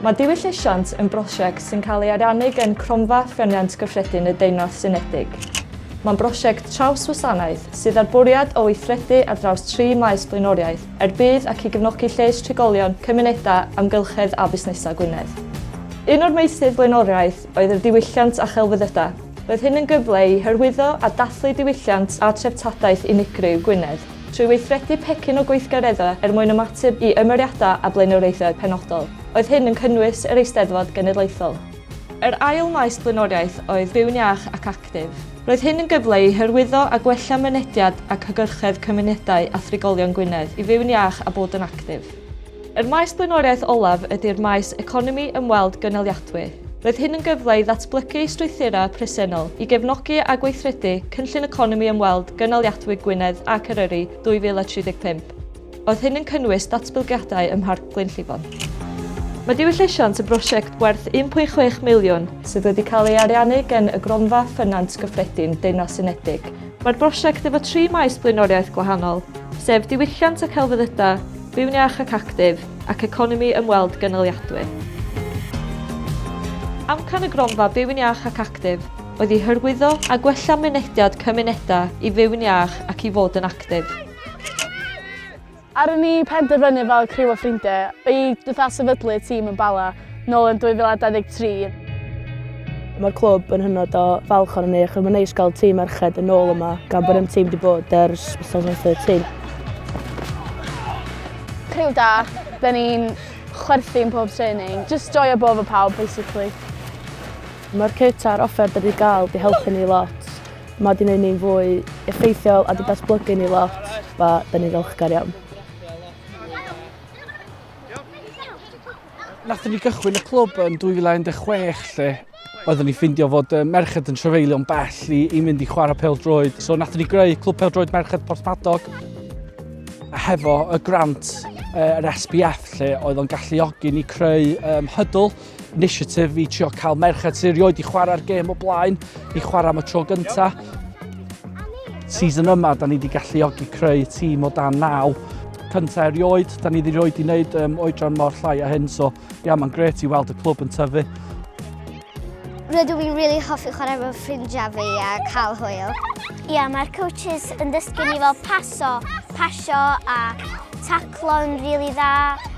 Mae diwylliant yn brosiect sy'n cael ei ariannu gan Cronfa Ffyniant Gyffredin y Deyrnas Unedig. Mae'n brosiect traws-wasanaeth sydd â'r bwriad o weithredu ar draws tri maes blaenoriaeth er budd ac i gefnogi lles trigolion, cymunedau, amgylchedd a busnesau Gwynedd. Un o'r meysydd blaenoriaeth oedd yr diwylliant a chelfyddydau. Roedd hyn yn gyfle i hyrwyddo a dathlu diwylliant a threftadaeth unigryw Gwynedd. Trwy weithredu pecyn o gweithgareddau er mwyn ymateb i ymyriadau a blaenoriaethau penodol. Oedd hyn yn cynnwys yr Eisteddfod Genedlaethol. Yr ail maes blaenoriaeth oedd Byw'n Iach ac Actif. Roedd hyn yn gyfle i hyrwyddo a gwella mynediad ac hygyrchedd cymunedau a thrigolion Gwynedd i fyw'n iach a bod yn actif. Yr maes blaenoriaeth olaf ydy'r maes economi ymweld gynaliadwy. Roedd hyn yn gyfle i ddatblygu strwythurau presennol i gefnogi a gweithredu Cynllun Economi Ymweld Gynaliadwy Gwynedd ac Eryri 2035. Roedd hyn yn cynnwys datblygiadau ym Mharc Glynllifon. Mae Diwyll Llesiant yn brosiect werth 1.6 miliwn, sydd wedi cael ei ariannu gan y Gronfa Ffynant Gyffredin Deyrnas Unedig, Mae'r brosiect efo tri maes blaenoriaeth gwahanol, sef diwylliant a celfyddydau, byw'n iach ac actif, ac economi ymweld gynaliadwy. Amcan y gronfa Byw'n Iach ac Actif oedd i hyrwyddo a gwella mynediad cymunedau i fyw'n iach ac i fod yn actif. Ar ôl ni penderfynu fel criw o ffrindiau i fatha sefydlu tîm yn Bala nôl yn 2023, Mae'r clwb yn hynod o falch ohonon ni achos mae'n neis cael tîm merched yn ôl yma gan bod ein tîm wedi bod ers 2013. Criw da, dan ni'n chwerthin pob training, jyst joio bod efo pawb basically. Mae'r kit a'r offer dan ni 'di gael 'di helpu ni lot. Mae wedi gwneud ni'n fwy effeithiol a wedi datblygu ni lot, fe da ni'n ddiolchgar iawn. Nathon ni gychwyn y clwb yn 2016 lle oeddwn ni ffindio fod uh, merched yn trefeilio'n bell i, i mynd i chwarae pel droed. So nathon ni greu clwb pel droed merched Porthmadog a hefo y grant uh, yr SBF lle oedd o'n galluogi ni creu um, hydl initiative i trio cael merched sy'n rioed i chwarae'r gêm o blaen, i chwarae am y tro gyntaf. Season yma, da ni wedi galluogi creu tîm o dan naw. Cyntaf erioed, da ni wedi rhoi i wneud um, oedran mor llai a hyn, so ia, mae'n gret i weld y clwb yn tyfu. Rydw i'n rili really hoffi chwarae mewn ffrindiau fi a cael hwyl. Ia, yeah, mae'r coaches yn dysgu ni fel paso, pasio a taclo'n rili really dda.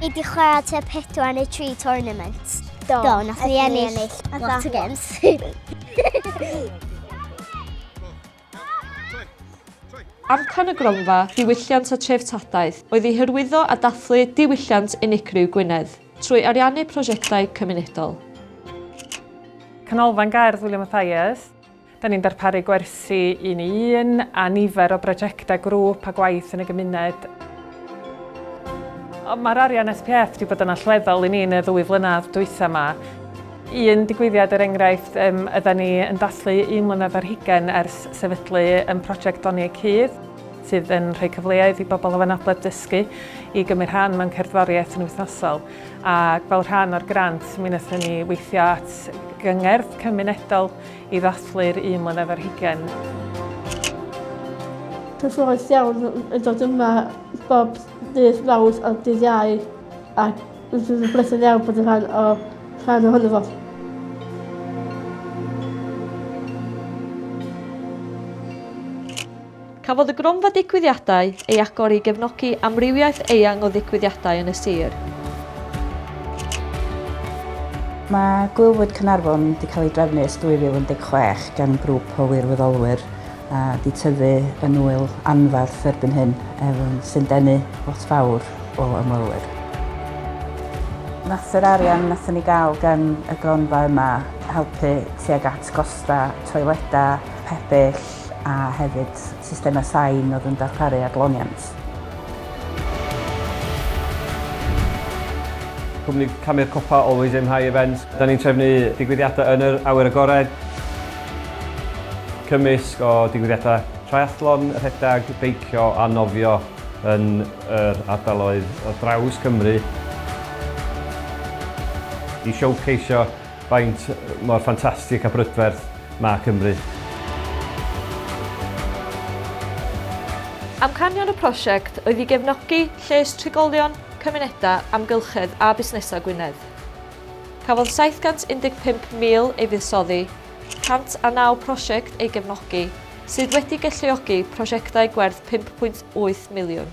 Ni di chwarae te pedwar neu tri tournament. Do, Do nath ni ennill lot o games. Amcan y gronfa ddiwylliant a treftadaeth oedd i hyrwyddo a dathlu diwylliant unigryw Gwynedd trwy ariannu prosiectau cymunedol. Canolfan Gerdd William Mathias. Da ni'n darparu gwersi un i un a nifer o brojectau grŵp a gwaith yn y gymuned. Mae'r arian SPF wedi bod yn allweddol i ni yn y ddwy flynedd dwytha yma. Un digwyddiad er enghraifft um, yda ni yn dathlu un mlynedd ar hugen ers sefydlu yn prosiect Doni y Cudd sydd yn rhoi cyfleoedd i bobl o fanabledd dysgu i gymryd rhan mewn cerddoriaeth yn wythnosol. A fel rhan o'r grant, mi wnaethon ni weithio at gyngerdd cymunedol i ddathlu'r un mlynedd ar hugain. Cyffrous iawn yn dod yma bob dydd Mawrth a dydd Iau ac rwy'n blethu'n iawn bod yn rhan o rhan ohono fo. Cafodd y Gronfa Digwyddiadau ei agor i gefnogi amrywiaeth eang o ddigwyddiadau yn y sir. Mae Gwylfwyd Caernarfon wedi cael ei drefnu ers 2016 gan grŵp o wirfoddolwyr a wedi tyfu yn ŵyl anferth erbyn hyn, er sy'n denu lot fawr o ymwelwyr. Nath yr arian nathon ni gael gan y gronfa yma helpu tuag at gosta toileda, pebyll, Welsh a hefyd systemau sain oedd yn darparu adloniant. Cwmni Camu'r Copa Always Aim High Events. Da ni'n trefnu digwyddiadau yn yr awyr agored, cymysg o digwyddiadau triathlon, rhedeg, beicio a nofio yn yr ardaloedd ar draws Cymru i showceisio Faint mor ffantastig a brydferth mae Cymru? Amcanion y prosiect oedd i gefnogi lles trigolion, cymunedau, amgylchedd a busnesau Gwynedd. Cafodd 715,000 ei fuddsoddi, 109 prosiect ei gefnogi, sydd wedi galluogi prosiectau gwerth 5.8 miliwn.